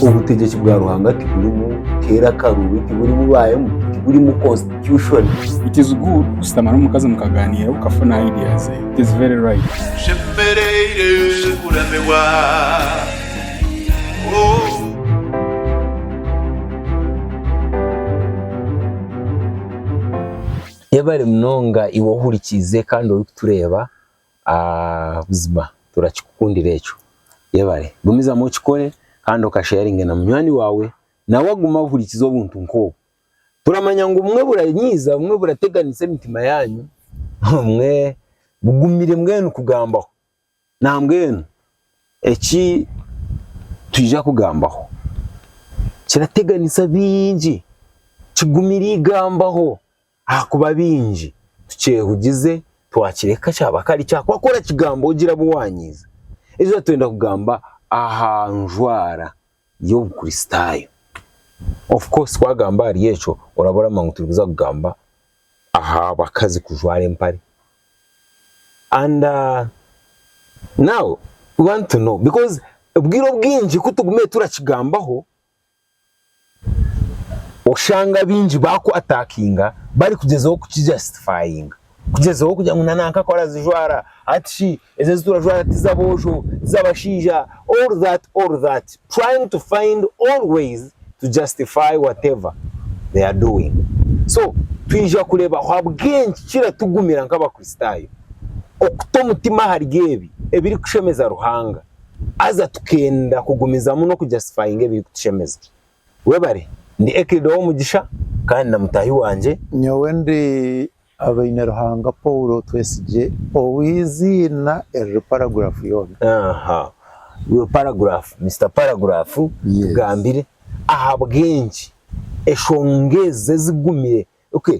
Obutegyeki bwa Ruhanga tiburimu keera akaruubi, tiburimu baayemu, tiburimu constitution. It is good kushutama n'omukazi mukagaaniira okafuna idea ze. It is very right. Nshemereire kuramirwa oh. Yebare munonga iwe ohurikiize kandi orikutureeba Aah buzima turakikukundira ekyo. Yebare. Gumizamu okikore kandi oka sharinge na munywani wawe nawe agume ahurikize obuntu nk'obu. Turamanya ngu obumwe buranyiiza, obumwe burateganisa emitima yaanyu, obumwe bugumire mbwenu kugambaho. Nambwenu eki twija kugambaho kirateganisa bingi, kigumire igambaho. Ahakuba baingi tukyehugize twakireka kyaba kare kyakuba ku orakigamba ogira abu waanyiiza. Ejura twenda kugamba aha njwara y'Obukristaayo. Of course twagamba ahari ekyo oraba oramanya ngu turi kuza kugamba aha bakazi kujwara empare. And now we want to know because obwire obwingi ku tugumire turakigambaho, Oshanga baingi bakwatakinga barikugyezaho kukijasitifayinga, kugyezaho kugira ngu nanka ku arazijwara, hati shi ezi eziturajwara tizaboojo, tizabashaija, all that all that trying to find all ways to justify whatever they are doing. So twija kureeba ahabw'enki kiratugumira nk'abakristaayo okuta omutima ahari ebi ebirikushemeza Ruhanga. Haza tukenda kugumizamu n'okujastifayinga ebirikutushemeza. Webare. Ndi Eklid ow'omugisha kandi na mutahi wangye. Nyowe ndi Abaineruhanga Paul Twesigye ow'eiziina eriri paragurafu yoona. Aha. Iwe paragurafu, Mister Paragurafu, tugambire ahabw'enki eshonga ezi ezigumire, okay,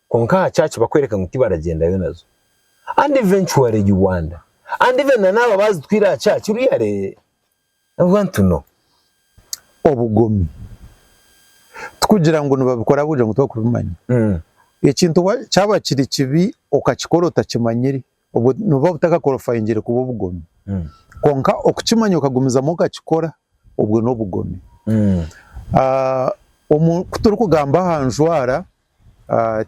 kwonka aha church bakwereka ngu tibaragyendayo nazo and eventually you wonder and even na naaba bazitwire aha church really I want to know. Obugomi tikugira ngu nibabikora ahabw'okugira ngu tibarikubimanya. Ekintu kyaba kiri kibi okakikora otakimanyire, obwo nibuba butakakorofayingire kuba obugomi. Kwonka okukimanya okagumizamu okakikora, obwo n'obugomi. Ku turikugamba aha njwara,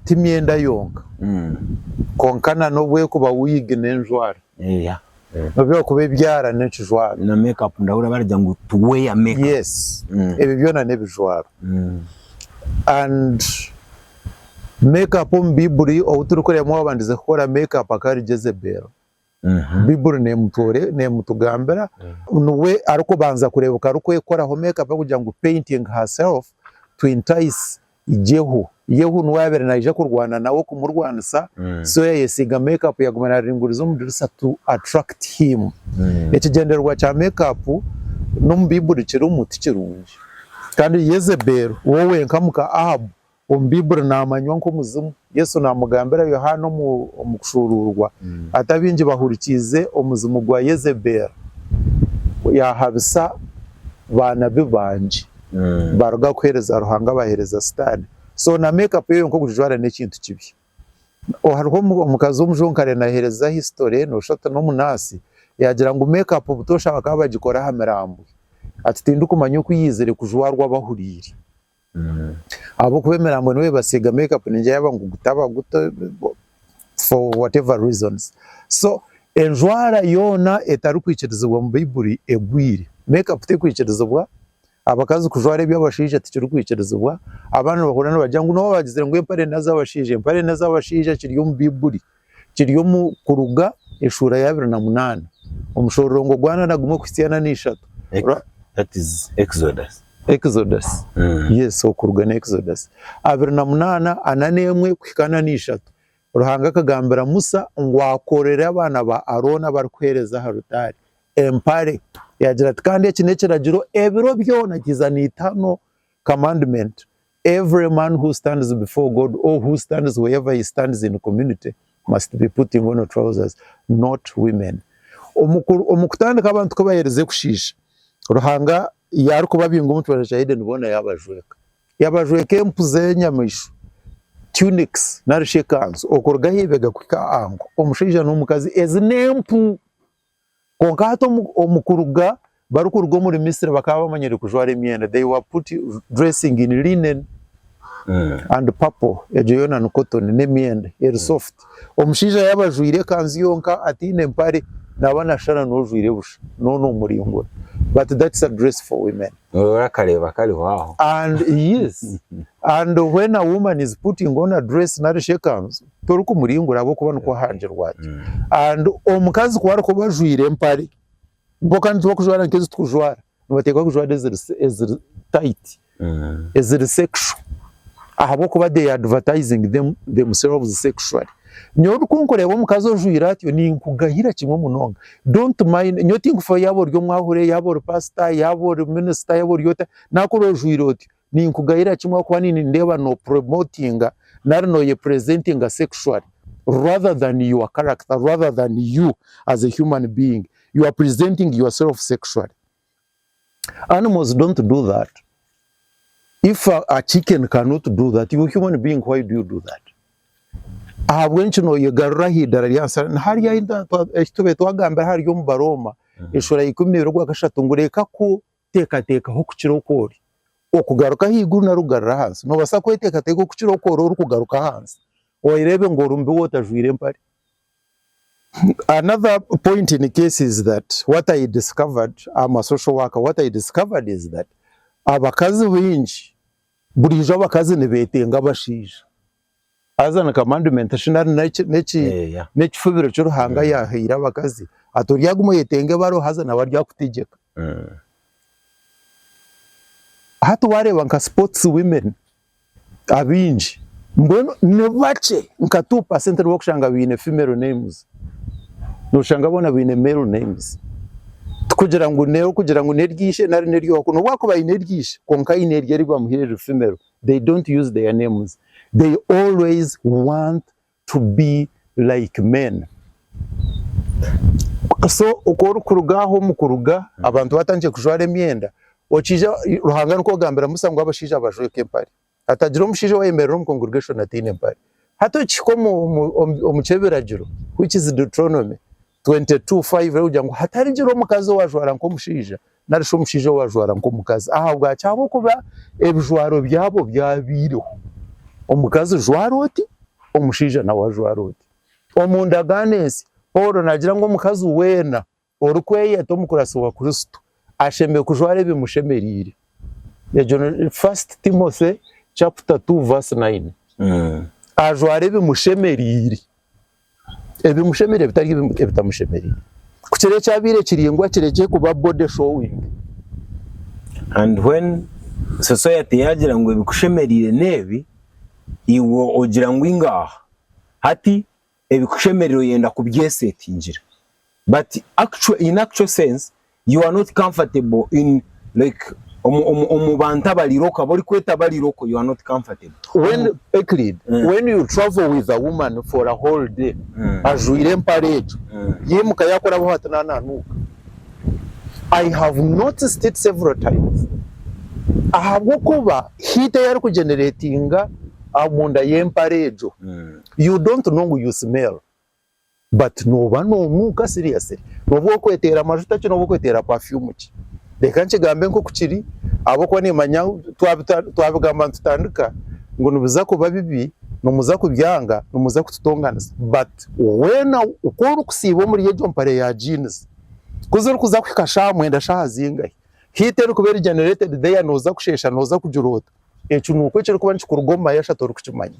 Ti myenda yonka, kwonka na n'obu erikuba wiigi n'enjwara. N'obu erikuba ebyara n'ekijwaro. Na make up ndahurira baragira ngu to wear make up. Yes. Ebyo byona n'ebijwaro. And make up omu Baiburi ou turikureebamu owaabandize kukora make up akaba ari Jezebeelo. Baiburi neemutugambira ngu niwe arikubanza kureebeka arikwekoraho make up barikugira ngu painting her self to entice Jehu. Yehu niwe yaabaire naija kurwana nawe kumurwanisa so yaayesiiga make up yaaguma naaringuriza omu dirisa to attract him. Ekigyendererwa kya make up n'omu Baiburi kirimu tikirungi. Kandi Yezebel we wenka muka Ahabu Omu Baibuli naamanywa nk'omuzimu. Yesu naamugambira Yohaana omu kushuuruurwa ati, Abaingi bahurikiize omuzimu gwa Yezebeeli, yaahabisa baanabi bangi, baaruga kuheereza Ruhanga baaheereza Sitaane. So na make up eyo yonka okugijwara n'ekintu kibi. Hariho omukazi omujonkare naaheereza history nooshusha oti n'omunaasi, yaagira ngu make up butoosha bakaba bagikora aha miraambwe. Ati tindikumanya oku yaizire kujwarwa bahuriire. Ahabw'okuba emirambo nibo basiiga make up ningira yaba ngu gutaba guto for whatever reasons. So enjwara yoona etarikwikirizibwa omu Baiburi egwire. Make up terikwikirizibwa, abakazi kujwara eby'abashaija tikirikwikirizibwa, abaana nibahurira nibagira ngu nooba baagizire ngu empare n'ez'abashaija, empare n'ez'abashaija kiri omu Baiburi. kiri omu Kuruga eshuura y'abiri na munaana omushororongo gwa ana na gumwe kuhitsya ana na ishatu. Abiri na munaana, ana n'emwe kuhika ana na ishatu, Ruhanga akagambira Musa ngu akorere abaana ba Arooni abarikuheereza aha rutaari empare, yaagira ati, Kandi eki n'ekiragiro ebiro byona, kiza na itano, commandment, Every man who stands before God or who stands wherever he stands in community must be putting on trousers not women. Omu kutandika abantu ku bahereze kushiisha, Ruhanga yaari ku babinga omu kibanja kya Edeni boona yaabajweka. Yabajweka empu z'enyamaishwa, tunics nari shi ekanzu okuruga aha ibega kuhika aha nku, omushaija n'omukazi. Ezi n'empu! Kwonka hati omu omu kuruga barikuruga omuri Misri bakaba bamanyire kujwara emyenda, they were put dressing in linen and purple, egyo yoona ni cotton, n'emyenda eri soft. Omushaija yaaba ajwire ekanzu yonka ataine mpare naaba nashana n'ojwire busha, nooba nomuringura. But that's a dress for women. Niwe orakareeba kariho aho. And yes, and when a woman is putting on a dress nari shi ekanzu, torikumuringura ahabw'okuba nikwo ahangirwa gye. And omukazi ku arikuba ajwaire empare, bo kandi tibakujwara nk'ezi turikujwara, nibateekwa kujwara eziri eziri tayiti, eziri sekisho ahabw'okuba they are advertising them themselves sexually. Nyowe obu kunkureeba omukazi ojwaire atyo ninkugayira kimwe munonga, don't mind, nyowe tinkufeho yaaba ori omwahure, yaaba ori paasita, yaaba ori minisita, yaaba ori ota, naakureeba ojwaire otyo, Ninkugayira kimwe ahakuba nindeeba no promotinga nari noye presentinga sexually rather than your character rather than you as a human being you are presenting yourself sexually animals don't do that if a, a chicken cannot do that you human being why do you do that ahabw'enki noyegarura ahaidara ryansi nihari ahi tube twagambira ahari omu baroma eshura ya ikumi nebiri ogwakashatu ngu reka ku Teekateekaho okukira oku ori okugaruka ahaiguru nari okugarura ahansi. Noobaasa kweteekateeka okukira oku ori orikugaruka ahansi. Oyereebe ngu ori mubi wootajwaire empare. Another point in case is that what I discovered am a social worker, what I discovered is that abakazi baingi, buriijo abakazi nibeetenga abashaija. Haza ni commandment shi nari neki neki Eh, yeah. nekifubiro ki Ruhanga Mm. yahaire abakazi ati oryaguma oyetenga ebaro haza nawe aryakutegyeka. Mm. Hati wareeba nka sports women abaingi mbwenu ni bakye nka 2% nibo orikushanga baine female names. Noshanga boona baine male names. Tikugira ngu n'erikugira ngu n'erya ishe nari n'erya owaku n'obu akuba aine erya ishe kwonka aine erye eribamuhaire riri female they don't use their names they always want to be like men so oku orikuruga ahu omukuruga abantu batandikire kujwara emyenda okiija Ruhanga nikwo kugambira Musa ngu abashaija bajweke empare hatagira omushaija owayemerera omu congregation ataine mpare hati okihika omu omu omu ky'ebiragiro which is Deuteronomy 22 5 Arikugira ngu hatarigira omukazi owajwara nk'omushaija, nari shi omushaija owajwara nk'omukazi, ahabwaki? Ahabw'okuba ebijwaro byabo byabaireho, omukazi jwara oti, omushaija nawe ajwara oti. Omu ndagaano ensya, Paulo naagira ngu omukazi weena orikweyeta omukuratsi wa Kristo ashemereire kujwara ebimushemereire. Egyo ni 1 Timothy chapter 2 verse 9. Ajwara ebimushemereire. ebimushemereire bitari ebitamushemereire. Ku kiro ekyabaire kiringwa kirekye kuba body showing. And when society yaagira ngu ebikushemereire n'ebi, iwe ogira ngu eingaaha. Hati ebikushemereire oyenda kubyesetingira. but actual in actual sense you are not comfortable in like omu omu omubantu abari local abori kweta abari local you are not comfortable When omu Euclid, Mm. when you travel with a woman for a whole day, Mm. ajwaire empare egyo, Mm. yaimuka yakorabaho ati na nanuuka. I have noticed it several times. Ahabw'okuba heat ei arikugeneratinga omunda y'empare egyo, Mm. you don't know ngu you smell. But noba nonuuka seriously? Noba okweteera majuta ki noba okweteera perfume ki? Reka nkigambe nkoku kiri ahabwokuba nimanya twabigamba nitutandika ngu nibiza kuba bibi nimuza kubyanga nimuza kututonganisa but weena ku orikusiiba omuri egyo mpare ya jeans ku zirikuza kuhika shaaha mwenda shaaha zingahi heat erikuba eri generated there noza kusheesha noza kugiroota ekyo nuko ekirikuba nikikuruga omu mayasha torikukimanya.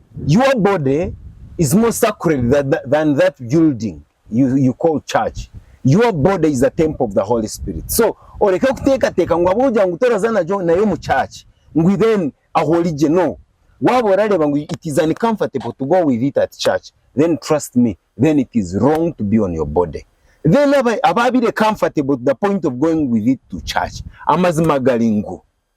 Your body is more sacred than that building you call church, your body is a temple of the Holy Spirit so oreke kuteekateeka ngu ahabw'okugira ngu toraza nagyo nayo omu church ngu then aho ori gye no waaba orareeba ngu it is uncomfortable to go with it at church then trust me then it is wrong to be on your body then abaabaire comfortable to the point of going with it to church amazima gari ngu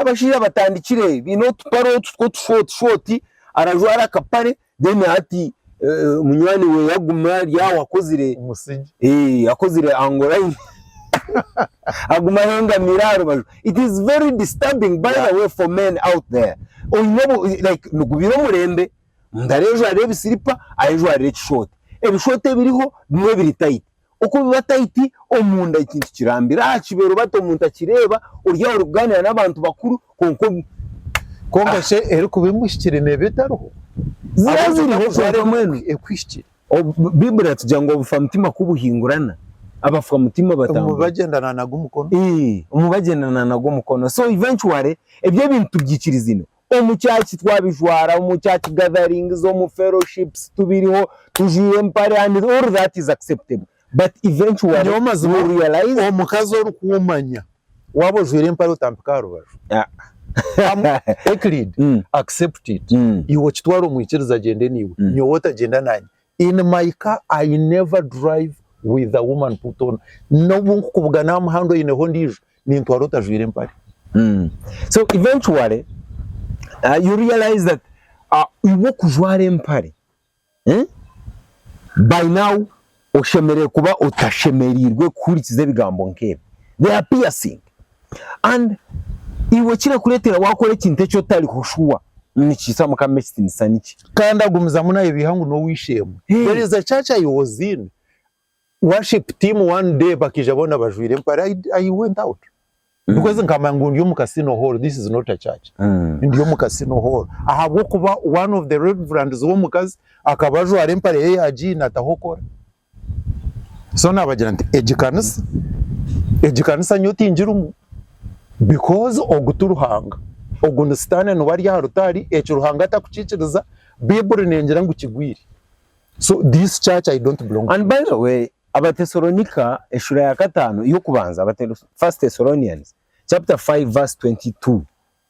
Abashaija batandikire baine otupare otu tw'otushoti shoti, arajwara akapare then hati munywani we agume ari aho akozire akozire ango layini agume ahengamire aha rubaju. It is very disturbing by the way for men out there oine like nigubiira omurembe omuntu arejwarire ebisiripa ayejwarire ekishoti, ebishoti ebiriho bimwe biri tayiti Okubiba taiti omunda ekintu kirambire aha kibeero bata omuntu akireeba oryaho orikugaaniira n'abantu bakuru kwonka omu. Kwonka shi erikuba emuhikire neeba etariho? Yaaba eriho kwonka mbwenu ekuhikire. Baiburi eratugirira ngu obufamutima ku buhingurana, abafamutima batambura. Omu bagendana nagwo omukono. Ii, omu bagendana nagwo omukono. So eventually, ebi ebintu tubyikirizine. Omu church twabijwara, omu church gatherings, omu fellowships tubiriho tujwaire empare and all that is acceptable but eventually Nyowe mazima you realize omukazi orikuumanya waaba ojwaire empare otampika aha rubaju. Am Euclid, Mm. accept it. Mm. Iwe okitwara omu ikiriza agyende naiwe, Mm. nyowe otagyenda naanye. In my car I never drive with a woman put on nobu nkukubugana aha muhanda oyineho ondiijo nintwara otajwaire empare. So eventually you realize that iwe okujwara empare by now oshemereire kuba otashemereirwe kuhurikiza ebigambo nk'ebi. They are piercing. And iwe ekirakuretera wakora ekintu eki otariho shuwa nikiitsa mukama ekitinisa nikyi? Kandi agumizamu nayebiiha ngu nowishemwe there is a church I was in worship team one day bakaija boona bajwire empare I I went out because nkamanya ngu ndi omu casino hall this is not a church ndi omu casino hall ahabwokuba one of the reverends womukazi akaba ajwara empare ye ya jean atahokora so nabagira nti egi kanisa egi kanisa nyowe tingirimu because ogu ti Ruhanga ogu ni sitaane niwe ari aha rutaari eki Ruhanga atarikukikiriza baiburi nengira ngu kigwire so this church I don't belong to and by the way Abatesalonika eshura ya kataano ey'okubanza, First Thessalonians chapter five verse twenty two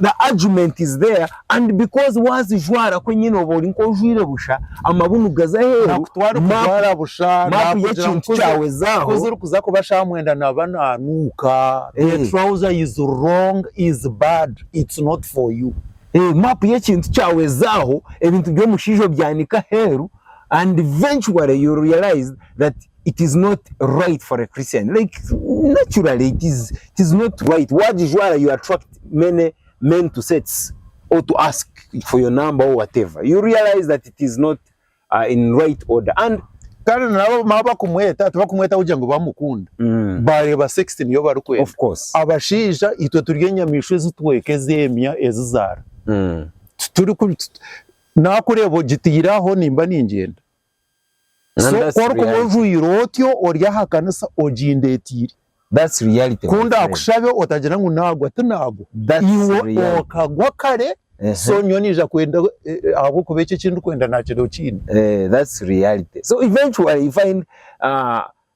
the argument is there and because wazijwara ku enyine oba ori nk'ojwaire busha amabunu gaza aheeru nakutwara map okujwara busha map nakugira y'ekintu ngu kuzi- kyawe zaaho kuzi orikuza kuba shamwenda naba nanuuka Eh. the trouser is wrong is bad it's not for you Eh, map y'ekintu kyawe ezaaho ebintu by'omushaija obyanika aheeru and eventually you realize that it is not right for a Christian like naturally it is, it is not right wagijwara you attract many men to sex or to ask for your number or whatever you realize that it is not uh, in right order and kandi nabo mama bakumweta tibakumweta kugira ngu bamukunda mm, bareba sex niyo barikwenda of course abashaija itwe turi enyamaishwa ezitweka ezemya ezizara mm, tituri ku- tut- nakureba ogitiraho nimba ningyenda So ku orikubujwire otyo ori aha kanisa ogindetiire. Ku ndaakushabe otagira ngu naagwa tinaagwa. Iwe okagwa kare so nyowe naija kwenda ahabw'okuba eki eki ndikwenda naakireeba okiine. So eventually you find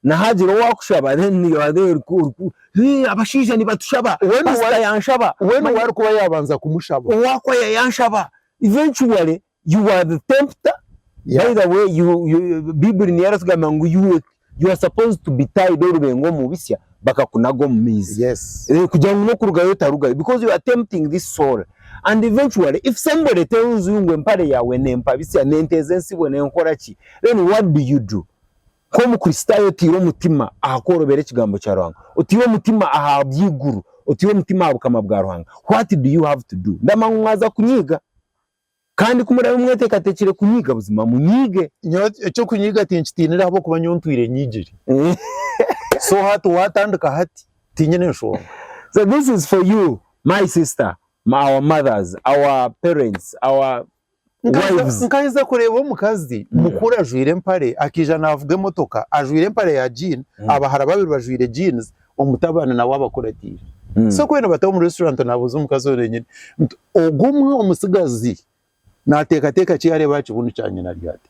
na haagira owaakushaba then you are there oriku hee abashaija nibatushaba, paasita yaanshaba, manya. Weena owaarikuba yaabanza kumushaba. Owaakwaya yaanshaba. Eventually You are the tempter, Yeah. by the way you, you, Bible niyo eratugamba ngu you, were- you are supposed to be tied orubengo omu bisya bakakunaga omu maizi. Yes. Eh, kugira ngu n'okurugayo otarugayo because you are tempting this soul and eventually if somebody tells you ngu empare yaawe nempa bisya nenteeza entsibo nenkora ki then what do you do? Nk'omukristaayo oteire omutima aha kworobera ekigambo kya Ruhanga, oteire omutima aha by'eiguru, oteire omutima aha bukama bwa Ruhanga, what do you have to do? Ndamanya ngu mwaza kunyiiga. Kandi ku murabe mweteekateekire kunyiga, buzima munyige. Nyowe eky'okunyiga tinkitiinire ahabw'okuba nyowe ntwire nyigire. So hati waatandika hati, tiinyine nshonga. So this is for you my sister, our mothers, our parents, our wives. Nkaheza kureeba omukazi mukuru ajwire empare akaija naavuga emotoka ajwire empare ya jean, abahara babiri bajwire jeans Omutabaana nawe abakuratiire. So ku baine bata omu restaurant nabuuza omukazi oyo enyene nti ogu omwe omutsigazi nateekateeka ki yaareeba aha kibunu kya nyina ari hati?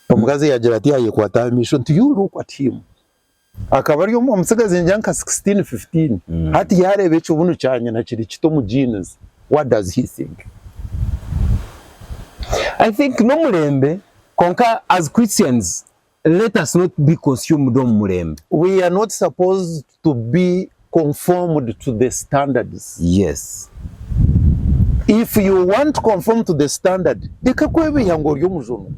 Omukazi yaagira ati yaayekwata aha maisho nti you look at him. Akaba ari omwe omutsigazi ngira nka sixteen, fifteen. Hati yaareeba ekibunu kya nyina kiri kiti omu jeans what does he think? I think n'omurembe kwonka as Christians Let us not be consumed omu murembe. We are not supposed to be conformed to the standards. Yes. If you want to conform to the standard, reka kwebiiha ngu ori omujunwa.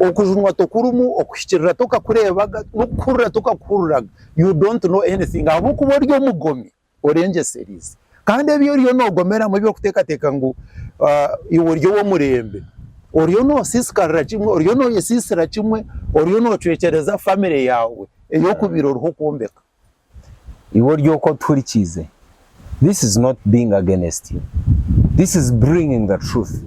Okujunwa tokurimu, okuhikirira tokakureebaga, n'okuhurira tokakuhuriraga. You don't know anything ahabw'okuba ori omugomi. orengyeserize. Kandi ebi oriyo nogomeramu ebyokutekateka ngu iwe ori owomurembe, oriyo nosisikarira kimwe, oriyo noyesisira kimwe, oriyo nocwekyereza famire yawe eyokubire oriho okwombeka. Iwe ori oku otuhurikiize, this is not being against you, this is bringing the truth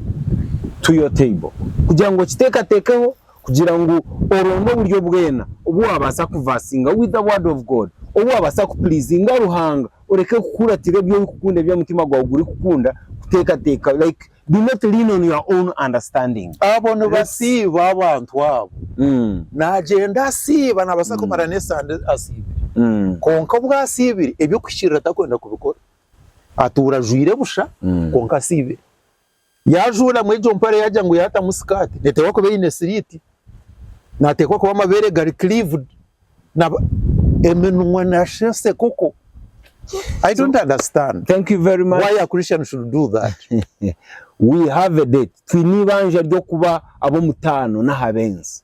to your table kugira ngu okitekatekeho Kugira ngu oronde oburyo bwena obu waabaasa kuvasinga with the word of God, obu waabaasa ku pleasinga Ruhanga oreke kukuratira ebi orikukunda ebi omutima gwawe gurikukunda kuteekateeka like do not lean on your own understanding. Abo nibasiiba abantu abo. Naagyenda asiiba naabaasa kumara n'esande asiibire kwonka obu asiibire eby'okuhikiirira tarikwenda kubikora. Atuura ajwaire busha kwonka asiibire. Yaajuuramu egyo mpare yaagira ngu yaatamu sikaati, neeteekwa kuba eine siriiti, naateekwa kuba amabeere gari cleaved, na eminwa naashi ensekoko, I don't understand Thank you very much. why a Christian should do that. We have a date. Twine eibanja ry'okuba ab'omutaano n'aha benzi.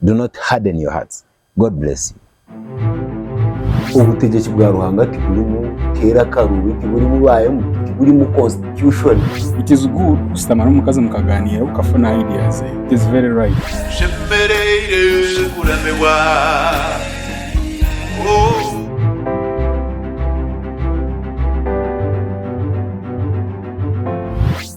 Do not harden your hearts. God bless you. Obutegyeki bwa Ruhanga tigurimu keera karuubi, tigurimu ba MP, tigurimu constitution. It is good kushutama n'omukazi mukagaaniira okafuna idea ze. It is very right. Tushemereire kuramirwa oh.